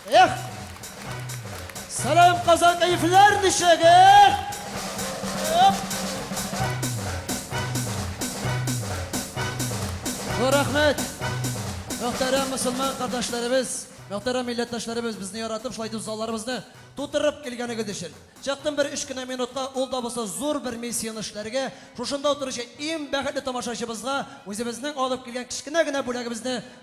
Эх! Сәлам, Казан кәефләр ничек, эх! Зур рәхмәт! Мөхтәрәм мусульман кардәшләребез, мөхтәрәм милләттәшләребез безне яратып, шулай итеп залларыбызны тутырып килгәнегез өчен. Чыктым бер өч кенә минутка, ул да булса зур бер миссияне эшләргә, шушында утыручы иң бәхетле тамашачыбызга үзебезнең алып килгән кечкенә генә бүләгебезне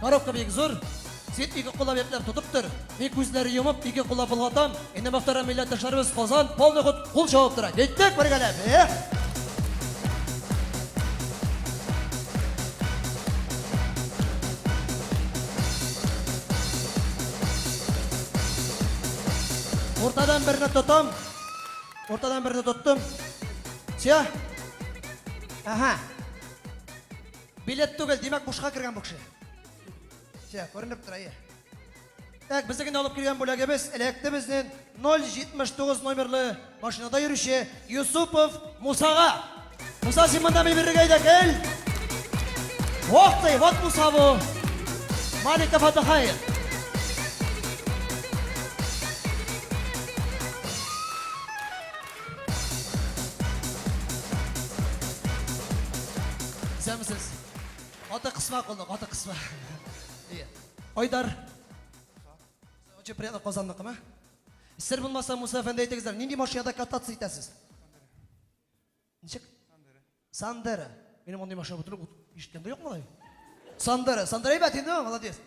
Коробка бик зур. Свет ике куллап якләп тотып тор. Мин күзләре йомып, ике куллап болгатам. Инде мохтарам милләттәшләребез Казан, полный ход кул чабып тора. Киттек бергәләп. Эх! Уртадан берне тотам. Уртадан берне тоттым. Все. Ага. Билет түгел, димәк бушка кергән бу кеше. Все, күренеп тора, әйе. Так, безнекен алып килгән бүләгебез эләкте безнен 079 номерлы машинада йөрүче Юсупов Мусага. Муса, син монда ми бирергә идә кел. Ох ты, вот Муса бу. Малика Фатахаев. Исәнмесез. Аты кысма кулны, аты кысма. Айдар. Очень приятно Казанныкымы? Сер булмаса, Муса әфәнде әйтегездер, нинди машинада кататься итәсез? Ничек? Сандера. Минем мондый машина бутырып ишеткән дә юк малай. Сандера, Сандера әйбәт инде, молодец.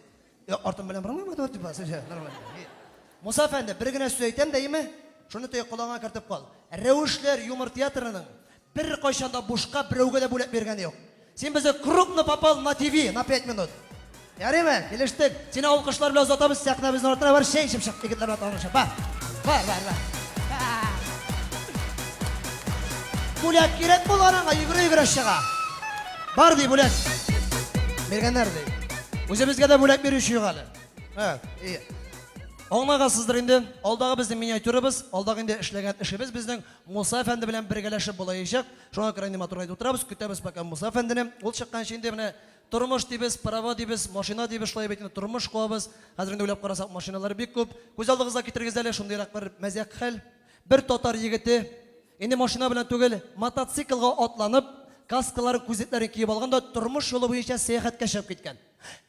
Я артым белән бармыйм инде типа, сәҗә, нормально. Муса фәнде, бер генә сүз әйтәм дә, име? Шуны тәй колагыңа кертеп кал. Рәвешләр юмор театрының бер кайчан да бушка берәүгә дә бүләк биргәне юк. Син безгә крупно попал на ТВ на 5 минут. Ярыймы, килештек. Сине алкышлар белән озатабыз, сәхнәбезнең артына бар, чәй эчеп чык, егетләр белән танышып. Бар. Бар, бар, бар. Бүләк кирәк булган аңа, йөгерә-йөгерә чыга. Бар ди бүләк. Биргәннәр ди. Үзебезгә дә бүләк бирүче юк әле. Ха, и. Аңлагансыздыр инде, алдагы безнең миниатюрабыз, алдагы инде эшләгән эшебез безнең Муса әфәнде белән бергәләшеп булаячак. Шуңа күрә инде матурлап утырабыз, көтәбез пока Муса әфәндене. Ул чыкканчы инде менә Тормыш дибез, права дибез, машина дибез, шулай бит инде, тормыш куабыз. Хәзер инде уйлап карасак, машиналар бик күп. Күз алдыгызга китерегез әле шундыйрак бер мәзәк хәл. Бер татар егете, инде машина белән түгел, мотоциклга атланып, каскаларын, күзлекләрен киеп алган да тормыш юлы буенча сәяхәткә чыгып киткән.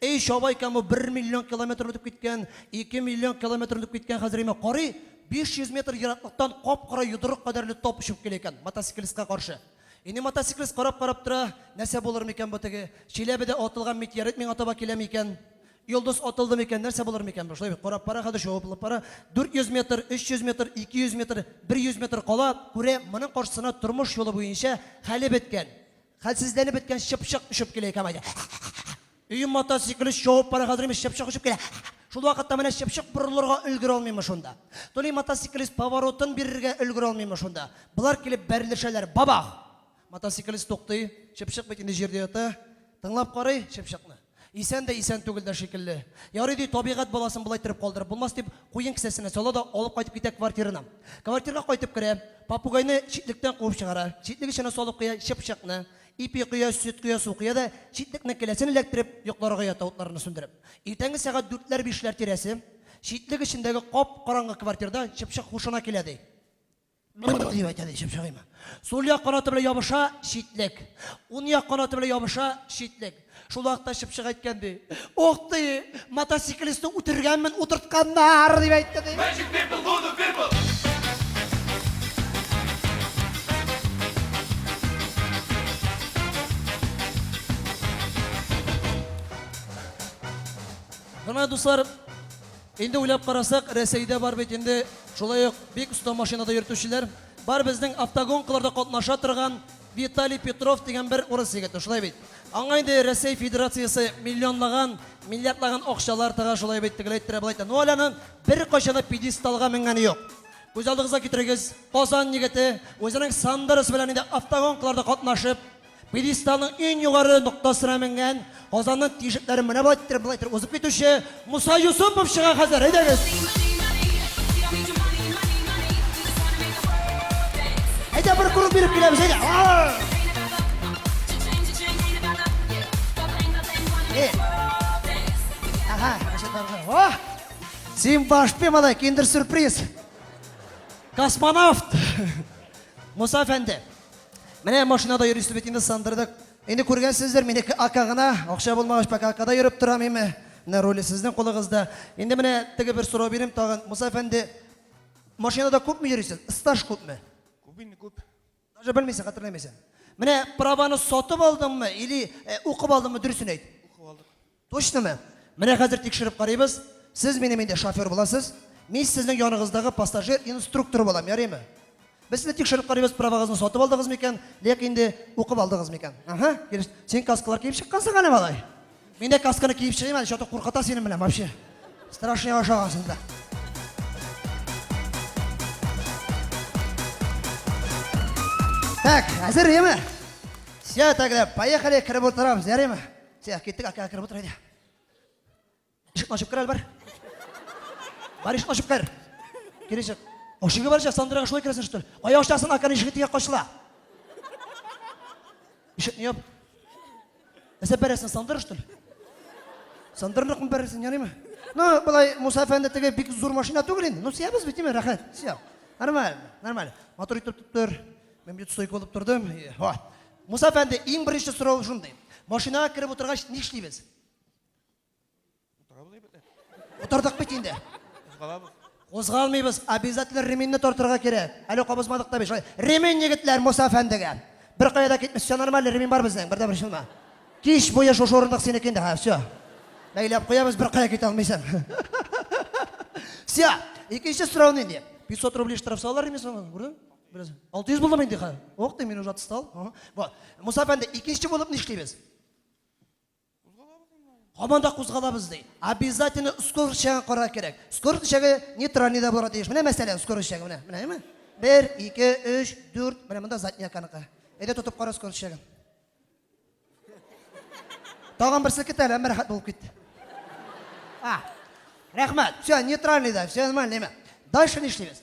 Әй, чабайкам, бу бер миллион километр үтеп киткән, ике миллион километр үтеп киткән, хәзер имә, карый, биш йөз метр ераклыктан кап-кара йодрык кадәрле топ очып килә икән, мотоциклистка каршы. Инде мотоциклист карап-карап тора, нәрсә булыр микән бу теге? Чиләбедә атылган метеорит миңа таба киләме икән? Йолдыз атылды микән, нәрсә булыр микән бу? Шулай бит, карап бара, хәзер чуалып бара. 400 метр, 300 метр, 200 метр, 100 метр кала, күрә, моның каршысына тормыш юлы буенча хәле беткән, хәлсезләнеп беткән чыпчык очып килә икән, Өем ата сикелү чоып бара хәзерем чыпчык очып килә. Шул вакытта менә чыпчык борылырга өлгер алмыймы шунда. Туни мотоциклист поворотын бирергә өлгер алмыймы шунда. Болар килеп бәрелешәләр, бабах! Мотоциклист туктый, чыпчык бит инде җирдә ята. Тыңлап карый, чыпчыкны. Исән дә исән түгел дә шикелле. Ярый ди, табигать баласын болай иттереп калдырып булмас дип, куен кесәсенә сала да алып кайтып китә квартирына. Квартирга кайтып керә, попугайны читлектән куып чыгара, читлек эченә салып куя чыпчыкны. Ипи коя, сөт коя, су коя да читлекнең келәсен эләктереп, йокларга ята утларны сүндереп. Иртәнге сәгать дүртләр-бишләр тирәсе, читлек эчендәге кап-караңгы квартирда чыпчык һушына килә, ди. Бр-бр-бр! дип әйтә, ди, чыпчык имә. Сул як канаты белән ябыша, читлек. Ун як канаты белән ябыша, читлек. Шул вакытта чыпчык әйткән ди. Ох ди, мотоциклистны үтергәнмен, утыртканнар дип әйтте ди. Magic people, voodoo people. Менә дуслар, инде уйлап карасак, Рәсәйдә бар бит инде шулай ук бик оста машинада йөртүчеләр. Бар безнең автогонкаларда катнаша торган Виталий Петров дигән бер урыс егете, шулай бит? Аңа инде Рәсәй Федерациясе миллионлаган, миллиардлаган акчалар тыга, шулай бит, тегеләй ттерә, болай ттерә. Ну әле аның беркайчан да пьедесталга менгәне юк. Күз алдыгызга китерегез, Казан егете үзенең Сандерос белән инде автогонкаларда катнашып, пьедесталның иң югары ноктасына менгән, Казанның тишекләрен менә бу әйттереп, бу әйттереп узып китүче Муса Юсупов чыга хәзер, әйдәгез. Әйдә бер күреп биреп киләбез, әйдә. Ага, О! Син баш пемада киндер сюрприз. Космонавт. Муса әфәнде. Менә машинада йөрисез бит инде сандырдык. Инде күргәнсездер, минеке ака гына, акча булмагач пока акада йөреп торам, ме, менә руле сезнең кулыгызда. Инде менә теге бер сорау бирим тагын, Муса әфәнде, машинада күпме йөрисез, стаж күпме? Күп инде, күп. Даже белмисең, хәтерләмисең. Менә праваны сатып алдыңмы или укып алдыңмы, дөресен әйт. Укып алдык. Точнымы? Менә хәзер тикшереп карыйбыз. Сез минем инде шофер буласыз. Мин сезнең яныгыздагы пассажир инструкторы булам, ярыймы? Без сезне тикшереп карыйбыз, правагызны сатып алдыгыз микән, лек инде укып алдыгыз микән? Аһа, килеш. Син каскалар киеп чыккансың әле, малай. Мин дә касканы киеп чыгыйм әле, чату куркыта синең белән вообще. Страшный ашаган син дә. Так, әзер, яме? Все, тогда, поехали, кереп утырабыз, ярыймы? Сәяхәт киттек, әкә кереп утыр әйдә. Ишекне ачып кер әле бар. Бар ишекне ачып кер. Кир ишек. Ашыгы барча Сандрага шулай керәсен что ли? Кая ашасын, акан ишеге тигә качыла. Ишекне яп. Әсәп бәрәсен Сандра что ли? Сандырнак мы бәрәсен, янимы? Ну, былай Муса әфәнде теге бик зур машина түгел инде. Ну, сиябез бит, тиме, рәхәт, сия. Нормально, нормально. Мотор итеп тотыр. Мин бит стойка булып тордым. Ха. Муса әфәнде, иң беренче сорау шундый. Машинага кереп утыргач ни эшлибез? Утырабыз әйбәтләп. Утырдык бит инде. Кузгалабыз. Кузгалмыйбыз, обязательно ременьне тартырга кирәк. Әле кабызмадык та бит. Шулай, Ремень егетләр Муса әфәндегә. Бер кая да китмә, все нормально, ремень бар безнең, бердә бер шылма. Кич буе шушы урындык синеке инде, ха, все. Бәйләп куябыз, бер кая китә алмыйсың. Все. Икенче сорау нинди? 500 рублей штраф салалар инде соң, күрдең? Бераз 600 булдым инде хәзер. Ох, мин уже отстал. Бар. Муса әфәнде, икенче булып нишлибез? Һаман да кузгалабыз ди. Обязательно скорость чагын карар кирәк. Скорость чагы нейтральный да булырга тиеш. Менә мәсәлән, скорость чагы менә. Менәме? 1, 2, 3, 4. Менә монда задняя каныкы. Әйдә тотып кара скорость чагын. Тагын берсе китә, әмма рәхәт булып китте. А. Рәхмәт. Все, нейтральный да, все нормально. Дальше нишлибез?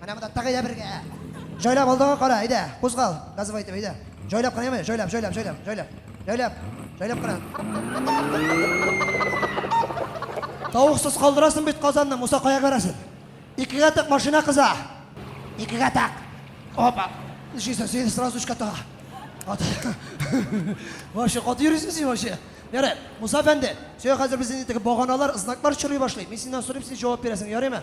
Менә монда тагы да бергә. Җайлап алдыга кара, әйдә, кузгал. Газовый итеп, әйдә. Җайлап кына, яме, җайлап, җайлап, җайлап, җайлап. Җайлап, җайлап кына. Тавыксыз калдырасың бит казанны, Муса кая керәсен? Икегә тәк машина кыза. Икегә тәк. Опа. Ишесә, син сразу өчкә тага. Ат. Вообще, кат йөрисең син вообще. Ярай, Муса әфәнде, сиңа хәзер безнең итеге баганалар, знаклар чорый башлый. Мин синнән сорыйм, син җавап бирәсең, ярыймы?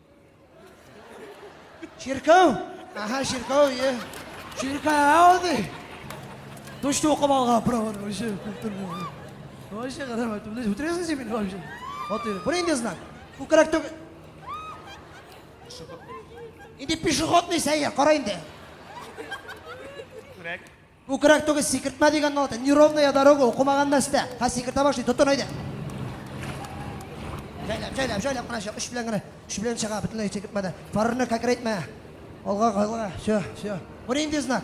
Чиркәү! Аха, чиркәү, е. Чиркәү ди. Точно укып алган праваны вообще культурный. Вообще карама, ты блядь, утрясың син мине вообще. Вот ты. Бу инде знак. Бу кирәк түгел. Инде пешеходный сәйер, кара инде. Күрәк. Күкрәк түгел, сикертмә дигән нота. Неровная дорога, укымаган мәстә. Хәзер сикертә башлый, тотын әйдә. Җайлап, җайлап, җайлап кына чык, үч белән генә. Үч белән чыга, бөтенләй сикертмәдә. Фарны кәкрәйтмә. Алга, алга, все, все. Бу нинди знак?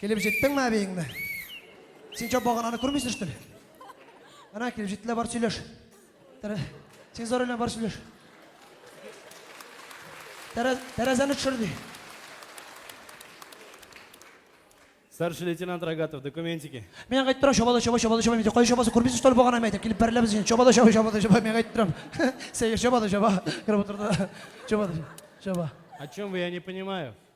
Килеп җиттеңме әбиеңне? Син чап багананы күрмисең штөль? Ана килеп җиттеләр, бар сөйләш. Тәрә... Син зар белән бар сөйләш. Тәрә... Тәрәзәне төшер ди. Старший лейтенант Рогатов, документики. Мин әйтеп торам, чабада чаба, чабада чаба, мин кай чабасы күрмисең штөль багананы әйтеп, килеп бәрелә без син. Чабада чаба, чабада чаба, мин әйтеп торам. Сәер чабада чаба. Кереп утырды. Чабада чаба. О чем вы, я не понимаю.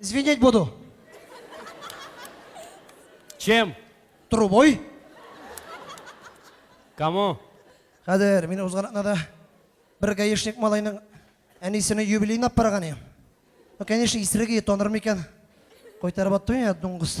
Звенеть буду. Чем? Трубой. Кому? Хәзер мин узган атнада бер гаишник малайның әнисенең юбилеен алып барган идем. Ну, конечно, исерге танырмы икән? Кайтарып аттым я, дуңгыз.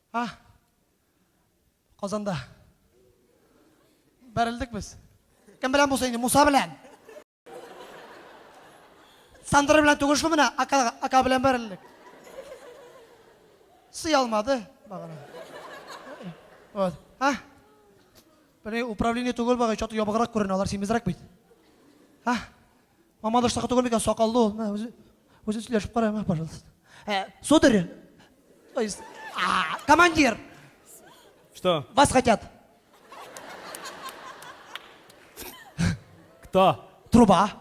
А? Казанда. Бәрелдек без. Кем белән булсын инде, Муса белән. Сандра белән түгел шул менә, ака, ака белән бәрелдек. Сый алмады, багана. Вот. А? Бәле управление түгел бага, чаты ябыграк күренә, алар симезрәк бит. А? Мамадыштагы түгел микән, сакаллы ул. Мә, үзе, үзе сөйләшеп кара, мә, пожалуйста. Ә, сударь, то есть, а, командир, Что? вас хотят. Кто? Труба.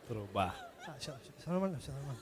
Труба. А, все, все, все нормально, все нормально.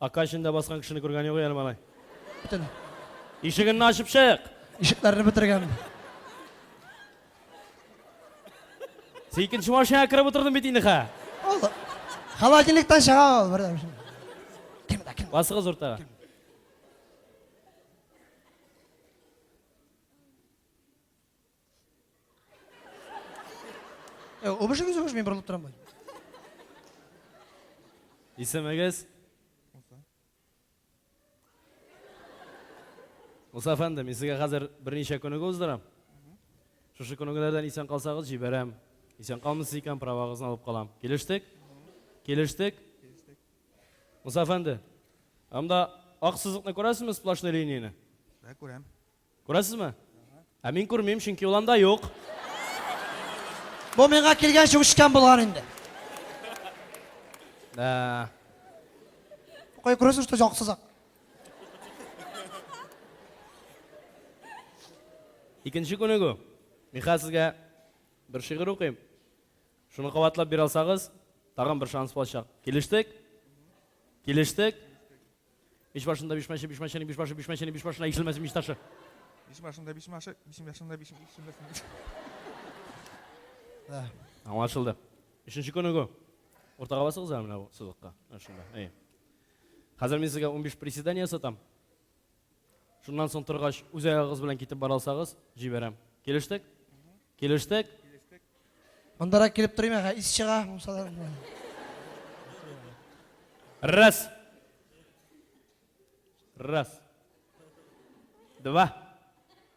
Ака эчендә баскан кешене күргән юк әле малай. Бөтен. Ишегенне ачып чык. Ишекләрне бетергән. Син икенче машинага кереп утырдың бит инде хә. Ул холодильниктан чыга ул бердәм. Кемдә кем? Басыгыз уртага. Үбешегез, үбеш, мин борылып торам бай. Исемегез? Муса әфәнде, мин сезгә хәзер берничә күнеге уздырам. Шушы күнегеләрдән исән калсагыз, җибәрәм. Исән калмыйсыз икән, правагызны алып калам. Килештек? Килештек? Муса әфәнде, анда ак сызыкны күрәсезме, сплошной линияне? Ә, күрәм. Күрәсезме? Ә мин күрмим, чөнки ул анда юк. Бу миңа килгәнче үчкән булган инде. Да. Кай күрәсез, что яксызак. Икенче күнегү. Мин хәзер сезгә бер шигырь укыйм. Шуны кабатлап бирә алсагыз, тагын бер шанс булачак. Килештек? Килештек? Биш башында биш мәче, биш мәченең биш башы, биш мәченең биш башына ишелмәсен биш ташы. Биш башында биш машы, биш башында биш ишелмәсен. Да. Аңлашылды. Өченче күнегү. Уртага басыгыз әле менә бу сызыкка. Менә шунда. Әйе. Хәзер мин сезгә унбиш приседание сатам. Шуннан соң торгач, үз аягыгыз белән китеп бара алсагыз, җибәрәм. Килештек? Килештек? Мондарак килеп торыйм, әгә ис чыга, мусалар. Раз. Раз. Два.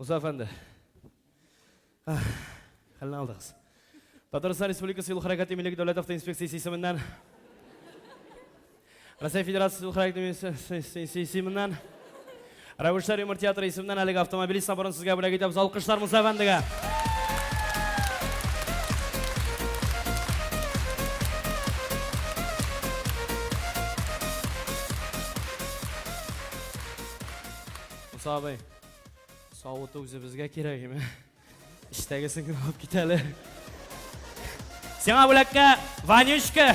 Муса әфәнде. Хәлне алдыгыз. Татарстан Республикасы юл хәрәкәте милек дәүләт автоинспекциясе исеменнән Россия Федерациясе юл хәрәкәте исеменнән Рәвешләр юмор театры исеменнән әлеге автомобилист наборын сезгә бүләк итәбез. Алкышлар Муса әфәндегә. Муса абый, савыты үзебезгә кирәгеме? Эчтәгесен генә алып кит әле. Сиңа бүләккә Ванючка!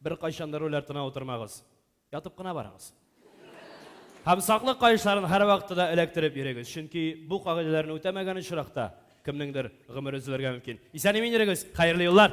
Беркайчан да руль артына утырмагыз. Ятып кына барыгыз. Һәм саклык каешларын һәрвакытта да эләктереп йөрегез, чөнки бу кагыйдәләрне үтәмәгән очракта кемнеңдер гомере өзелергә мөмкин. Исән-имин йөрегез! Хәерле юллар!